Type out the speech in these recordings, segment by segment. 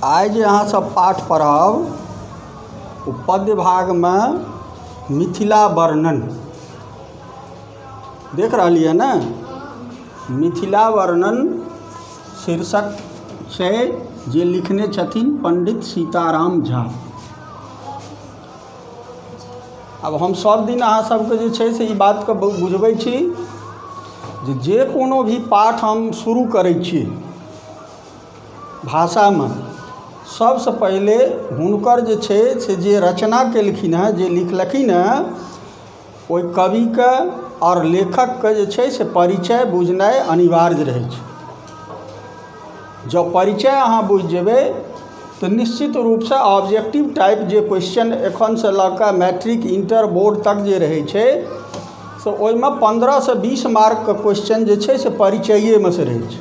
आइ जे अहाँ सब पाठ पढ़ब ओ पद्य भागमे मिथिला वर्णन देख रहलियै ने मिथिला वर्णन शीर्षक छै जे लिखने छथिन पण्डित सीताराम झा आब हम सब दिन अहाँ सबके जे छै से ई बातके बुझबै छी जे जे कोनो भी पाठ हम शुरू करै छी भाषामे सबसँ पहिले हुनकर जे छै से जे रचना केलखिन हँ जे लिखलखिन हँ ओहि कविके आओर लेखकके जे छै से परिचय बुझनाइ अनिवार्य रहै छै जँ परिचय अहाँ बुझि जेबै तऽ निश्चित रूपसे ऑब्जेक्टिव टाइप जे क्वेश्चन एखनसे लऽ कऽ मैट्रिक इण्टर बोर्ड तक जे रहै छै से ओहिमे पनरहसे बीस मार्कके क्वेश्चन जे छै से परिचैएमेसे रहै छै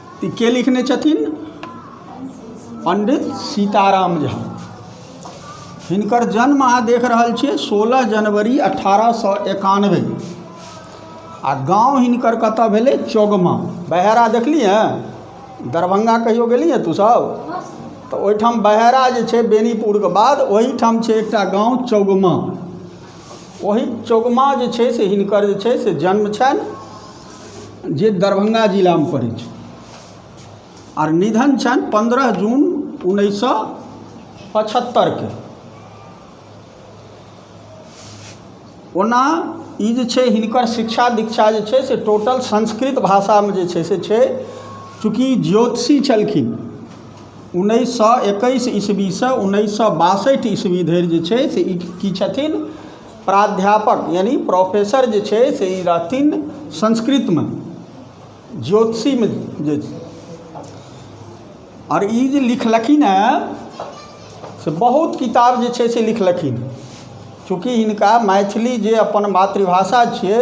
ई के लिखने छथिन पंडित सीताराम झा हिनकर जन्म अहाँ देख रहल छियै सोलह जनवरी अठारह सौ एकानवे आ गांव हिनकर कतऽ भेलै चौगमा बहेरा देखली हँ दरभंगा कहियो गेली हँ तू सब तऽ ओहिठाम बहेरा जे छै बेनीपुरके बाद ओहिठाम छै एकटा गांव चौगमा ओहि चौगमा जे छै से हिनकर जे छै से जन्म छनि जे दरभंगा जिलामे पड़ै छै आर निधन छनि पन्द्रह जून उन्नैस सए पचहत्तरिके ओना ई जे छै हिनकर शिक्षा दीक्षा जे छै से टोटल संस्कृत भाषामे जे छै से छै चूँकि ज्योतिषी छलखिन उन्नैस सए एकैस ईस्वीसँ उन्नैस सए बासठि ईस्वी धरि जे छै से ई की छथिन प्राध्यापक यानि प्रोफेसर जे छै से ई रहथिन संस्कृतमे ज्योतिषीमे जे आओर ई जे लिखलखिन हेँ से बहुत किताब जे छै से लिखलखिन चूँकि हिनका मैथिली जे अपन मातृभाषा छियै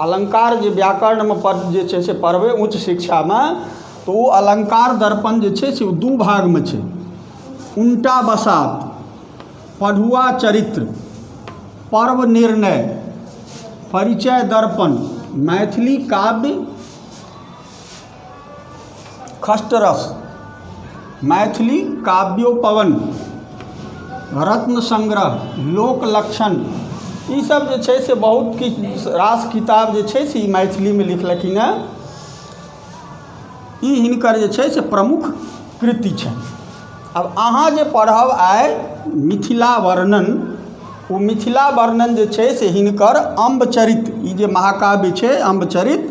अलङ्कार जे व्याकरणमे पढ़ जे छै से पढ़बै उच्च शिक्षामे तऽ ओ अलङ्कार दर्पण जे छै से ओ दू भागमे छै उनटा बसात पढ़ुआ चरित्र पर्व निर्णय परिचय दर्पण मैथिली काव्य खसटरस मैथिली काव्योपवन रत्न संग्रह लोक लक्षण ई सब जे छै से बहुत किछु रास किताब जे छै से ई मैथिलीमे लिखलखिन हँ ई हिनकर जे छै से प्रमुख कृति छनि आब अहाँ जे पढ़ब आइ मिथिला वर्णन ओ मिथिला वर्णन जे छै से हिनकर अम्ब चरित ई जे महाकाव्य छै अम्ब चरित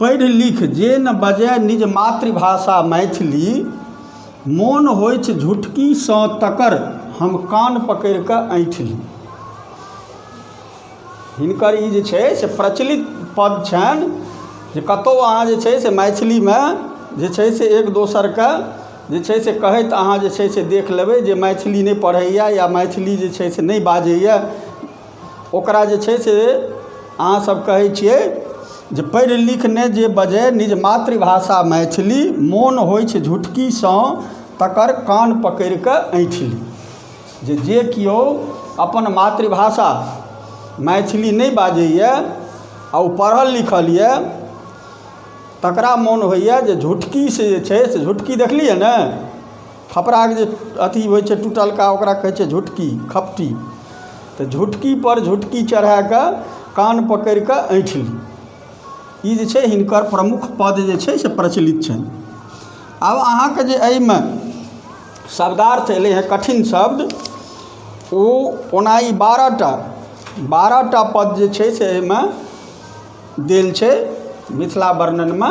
पढ़ि लिख जे न बजय निज मातृभाषा मैथिली मोन होइछ झुटकीसँ तकर हम कान पकड़ि कऽ ऐँठि ली हिनकर ई जे छै से प्रचलित पद छनि जे कतहु अहाँ जे छै से मैथिलीमे जे छै से एक दोसरके जे छै से कहैत अहाँ जे छै से देख लेबै जे मैथिली नहि पढ़ैए या मैथिली जे छै से नहि बाजैए ओकरा जे छै से अहाँसब कहै छिए जे पढ़ि लिखि नहि जे बजै निज मातृभाषा मैथिली मोन होइ छै झुटकीसँ तकर कान पकड़िके अँइठि ली जे जे केओ अपन मातृभाषा मैथिली नहि बाजैए आओर ओ पढ़ल लिखल अइ तकरा मोन होइए जे झुटकीसँ जे छै से झुटकी देखलिए ने खपड़ाके जे अथी होइ छै टुटलका ओकरा कहै छै झुटकी खपटी तऽ झुटकीपर झुटकी चढ़ाए कऽ कान पकड़ि कऽ ऐँठली ई जे छै हिनकर प्रमुख पद जे छै से प्रचलित छनि आब अहाँके जे एहिमे शब्दार्थ एलै हेँ कठिन शब्द ओ ओना ई बारह टा बारह टा पद जे छै से एहिमे देल छै मिथिला वर्णनमे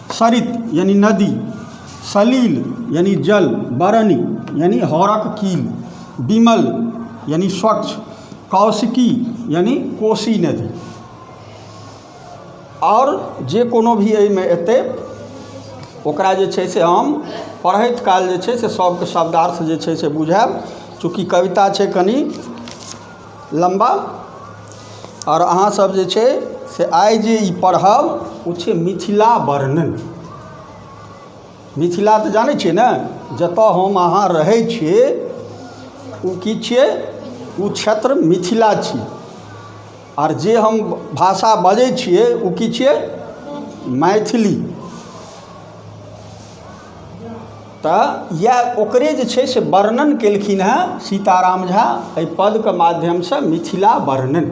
सरित यानि नदी सलिल यानि जल बरनि यानि हरक कील विमल यानि स्वच्छ कौशिकी यानि कोशी नदी आओर जे कोनो भी एहिमे एतै ओकरा जे छै से हम पढ़ैत काल जे छै से सभके शब्दार्थ जे छै से बुझायब चूँकि कविता छै कनि लम्बा आओर अहाँ सब जे छै से आइ जे ई पढ़ब ओ छै मिथिला वर्णन मिथिला तऽ जानै छियै ने जतऽ हम अहाँ रहै छियै ओ की छियै ओ क्षेत्र मिथिला छी आओर जे हम भाषा बजै छियै ओ की छियै मैथिली तऽ इएह ओकरे जे छै से वर्णन कयलखिन हँ सीताराम झा एहि पदके माध्यमसँ मिथिला वर्णन